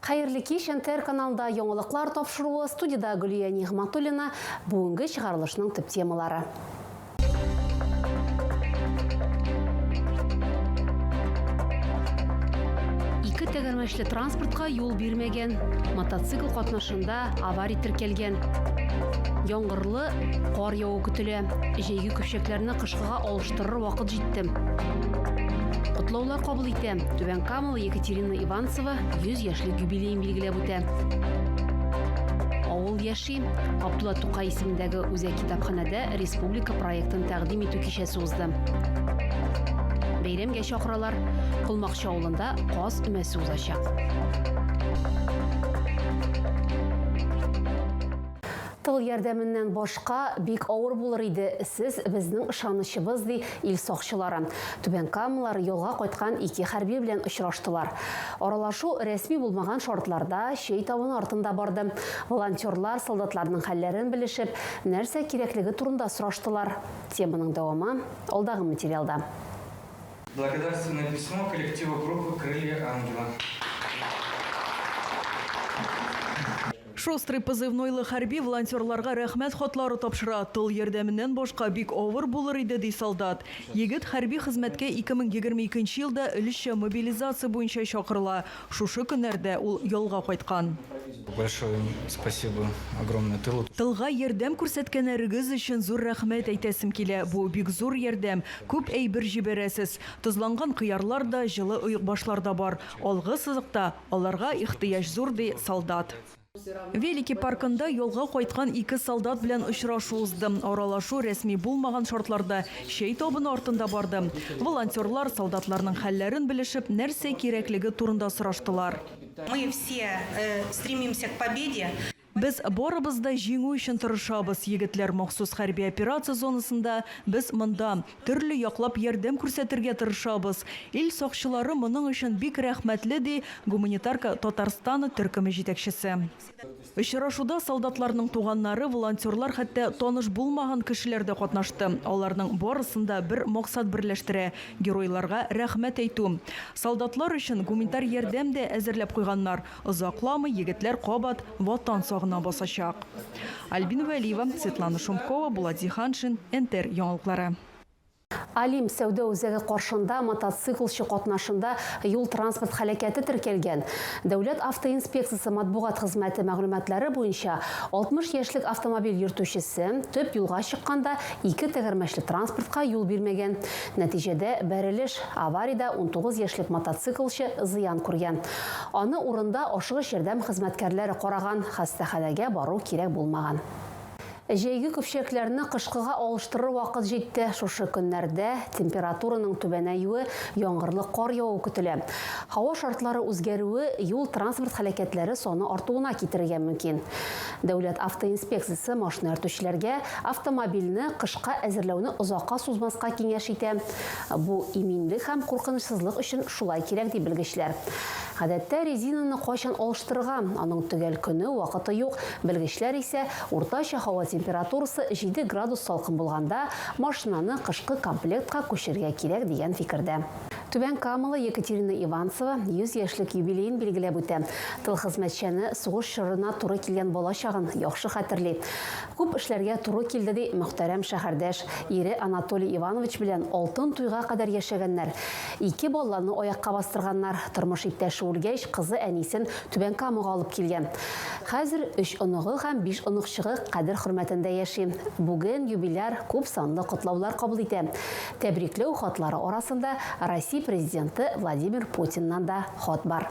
Хәерле кич, НТР каналында яңалыклар тапшыруы, студида Гөлия Нигъматуллина, бүгенге чыгарылышның төп темалары. тәгәрмәчле транспортка юл бирмәгән, мотоцикл катнашында авария теркәлгән. Яңгырлы кар яву көтелә. Җәйге көпчәкләрне кышкыга алыштырыр вакыт җитте. Котлаулар кабул итәм. Түбән Камалы Екатерина Иванс Мөхәммәтова 100 яшьлек юбилеен билгеләп үтә. Авыл яши. Габдулла Тукай исемендәге үзәк китапханәдә республика проектын тәкъдим итү кичәсе узды. Бәйрәмгә чакыралар. Колмакчы авылында каз өмәсе узачак. Тыл ярдәменнән башка бик авыр булыр иде, сез безнең ышанычыбыз, ди Ил сакчылары Түбән Камалар ялга кайткан ике хәрби белән очраштылар. Аралашу рәсми булмаган шартларда чәй табыны артында барды. Волонтерлар солдатларның хәлләрен белешеп, нәрсә кирәклеге турында сораштылар. Теманың дәвамы алдагы материалда. Благодарственное письмо коллективу группы Крылья ангела. Шустрый позывнойлы хәрби волонтерларга рәхмәт хатлары тапшыра, тыл ярдәменнән башка бик авыр булыр иде, ди солдат. Егет хәрби хезмәткә 2022 елда өлешчә мобилизация буенча чакырыла, шушы көннәрдә ул ялга кайткан. Большое им спасибо огромное тылу. Тылга ярдәм күрсәткәнәрегез өчен зур рәхмәт әйтәсем килә, бу бик зур ярдәм, күп әйбер җибәрәсез, тозланган кыярлар да, җылы оекбашлар да бар, алгы сызыкта, Аларга ихтыяҗ зур, ди солдат. Велики паркында ялга кайткан ике солдат белән очрашу узды. Аралашу рәсми булмаган шартларда чәй табыны артында барды. Волонтерлар, солдатларның хәлләрен белешеп, нәрсә кирәклеге турында сораштылар. Мы все стремимся к победе. Без барыбыз да җиңү өчен тырышабыз, егетләр махсус хәрби операция зонасында, без монда. Төрле яклап ярдәм күрсәтергә тырышабыз. Ил сакчылары моның өчен бик рәхмәтле, ди Гуманитарка Татарстаны төркеме җитәкчесе. Очрашуда солдатларның туганнары, волонтерлар, хәтта таныш булмаган кешеләр дә катнашты. Аларның барысын да бер максат берләштерә, геройларга рәхмәт әйтү. Солдатлар өчен гуманитар ярдәм дә әзерләп куйганнар. Озакламый егетләр кабат Ватан сагына басачак. Альбина Вәлиева, Светлана Шумкова, Булат Зиһаншин, НТР яңалыклары. Алим сәүдә үзәге каршында мотоциклчы катнашында юл-транспорт һәлакәте теркәлгән. Дәүләт автоинспекциясе матбугат хезмәте мәгълүматлары буенча, 60 яшьлек автомобиль йөртүчесе төп юлга чыкканда ике тәгәрмәчле транспортка юл бирмәгән. Нәтиҗәдә бәрелеш, авариядә 19 яшьлек мотоциклчы зыян күргән. Аны урында ашыгыч ярдәм хезмәткәрләре караган, хастаханәгә бару кирәк булмаган. Җәйге көпчәкләрне кышкыга алыштырыр вакыт җитте. Шушы көннәрдә температураның түбәнәюе, яңгырлы кар яву көтелә. Һава шартлары үзгәрүе юл-транспорт һәлакәтләре саны артуына китерергә мөмкин. Дәүләт автоинспекциясе машина йөртүчеләргә автомобильне кышка әзерләүне озакка сузмаска киңәш итә. Бу иминлек һәм куркынычсызлык өчен шулай кирәк, ди белгечләр. Гадәттә, резинаны кайчан алыштырырга, аның төгәл көне, вакыты юк. Белгечләр исә, уртача һава температурасы җиде градус салкын булганда, машинаны кышкы комплектка күчерергә кирәк, дигән фикердә. Түбән Камалы Екатерина Иванцева 100 яшьлек юбилеен билгеләп үтә. Тыл хезмәтчәне сугыш чорына туры килгән балачагын яхшы хәтерли. Күп эшләргә туры килде, ди мөхтәрәм шәһәрдәш. Ире Анатолий Иванович белән алтын туйга кадәр яшәгәннәр. Ике баланы аякка бастырганнар. Тормыш иптәше үлгәч, кызы әнисен Түбән Камага алып килгән. Хәзер өч оныгы һәм биш оныкчыгы кадер-хөрмәтендә яши. Бүген юбиляр күп санлы котлаулар кабул итә. Тәбрикләү хатлары арасында Россия Президенты Владимир Путиннан да хат бар.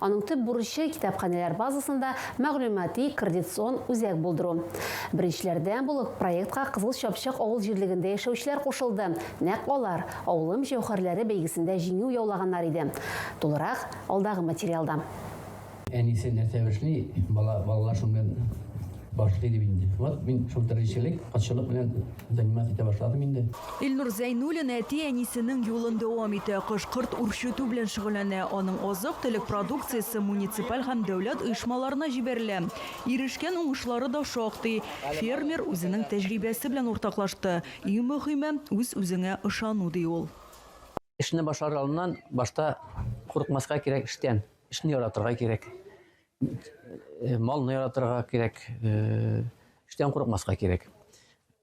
Аның төп бурычы, китапханәләр базасында мәгълүмати, коордицион үзәк булдыру. Беренчеләрдән булып проектка Кызыл Чапчак авыл җирлегендә яшәүчеләр кушылды. Нәкъ алар Авылым җәүһәрләре бәйгесендә җиңү яулаганнар иде. Тулырак, алдагы материалда. Әнисе нәрсә эшли, бала, балалар шуннан башлый дип инде. Вот мин шул терлекчелек, атчылык белән Заниматься итә башладым инде. Илнур Зәйнуллин әти-әнисенең юлын дәвам итә. Кыш корт үрчетү белән шөгыльләнә. Аның азык-төлек продукциясе муниципаль һәм дәүләт оешмаларына җибәрелә. Ирешкән уңышлары да шактый. Фермер үзенең тәҗрибәсе белән уртаклашты. Иң мөһиме, үз-үзеңә ышану, ди ул. Эшне башлар алдыннан башта курыкмаска кирәк эштән. Эшне яратырга кирәк. Э, малны яратырга кирәк, э, эштән курыкмаска кирәк.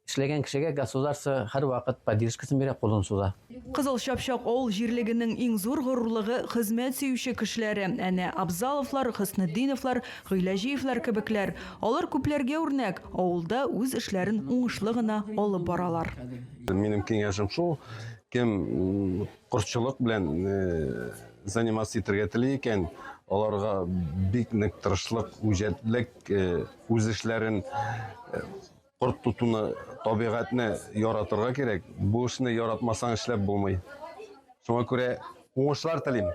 Эшләгән кешегә государство һәрвакыт поддержкасын бирә, кулын суза. Кызыл Чапчак авыл җирлегенең иң зур горурлыгы хезмәт сөюче кешеләре. Әнә Абзаловлар, Хөснетдиновлар, Гыйләҗиевләр кебекләр. Алар күпләргә үрнәк, авылда үз эшләрен уңышлы гына алып баралар. Минем киңәшем шул, кем Кортчылык белән заниматься итәргә тели икән, аларга бик нык тырышлык, үҗәтлек, үз эшләрен корт тотуны, табигатьне яратырга кирәк. Бу эшне яратмасаң эшләп булмый. Шуңа күрә уңышлар телим.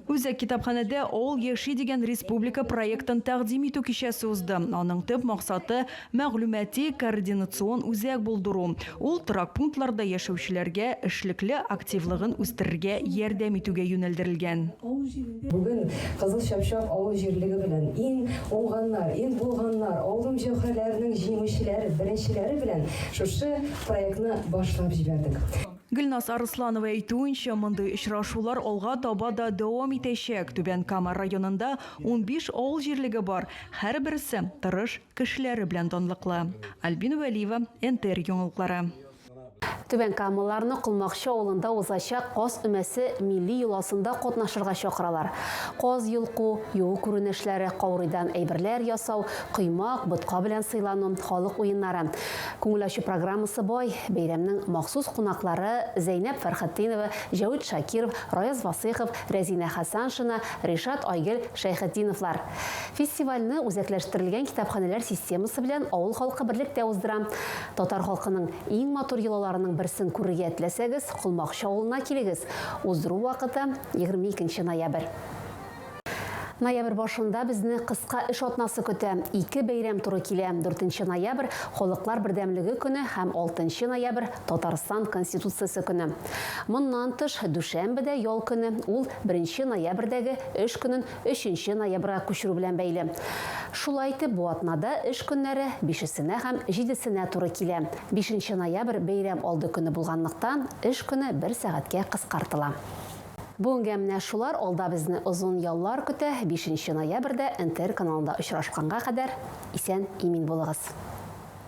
Үзәк китапханәдә All яши дигән республика проектын тәкъдим итү кичәсе узды. Аның төп максаты, мәгълүмати-координацион үзәк булдыру, ул торак пунктларда яшәүчеләргә эшлекле активлыгын үстерергә ярдәм итүгә юнәлдерелгән. Бүген Кызыл Чапчак авыл җирлеге белән иң уңганнар, иң булганнар, аудым җәүһәрләренең җиңүчеләре, беренчеләре белән шушы проектны башлап җибәрдек. Гөлназ Арысланова әйтүенчә, мондый очрашулар алга таба да дәвам итәчәк. Түбән Кама районында унбиш авыл җирлеге бар, һәрберсе, тырыш Кешеләре белән данлыклы. Альбина Вәлиева, НТР яңалыклары. Түбәнкамалыларны Колмакчы авылында узачак Каз өмәсе милли йоласында катнашырга чакыралар. Каз йолку, юу күренешләре, каурыйдан әйберләр ясау, коймак, ботка белән сыйлану, халык уеннары. Күңел ачу программасы бай. Бәйрәмнең махсус кунаклары, Зәйнәп Фәрхетдинова, Җәвит Шакиров, Раяз Васыйхов, Рәзинә Хәсаншина, Ришат Айгөл Шәйхетдиновлар. Фестивальне үзәкләштерелгән китапханәләр системасы белән авыл халкы берлектә уздыра. Татар халкының иң матур йолаларының берсен күрергә теләсәгез, Колмакчы авылына килегез. Уздыру вакыты, 22 ноябрь. Ноябрь башында безне кыска эш атнасы көтә. Ике бәйрәм туры килә, 4 ноябрь, Халыклар бердәмлеге көне һәм 6 ноябрь, Татарстан Конституциясе көне. Моннан тыш, дүшәмбе дә ял көне, ул беренче ноябрьдәге эш көнен Өченче ноябрьгә күчерү белән бәйле. Шулай итеп, бу атнада эш көннәре бишесенә һәм җидесенә туры килә. Бишенче ноябрь бәйрәм алды көне булганлыктан, эш көне бер сәгатькә кыскартыла. Бүгенгә менә шулар, алда безне озын яллар көтә, бишенче ноябрьдә НТР каналында очрашканга кадәр исән-имин булыгыз.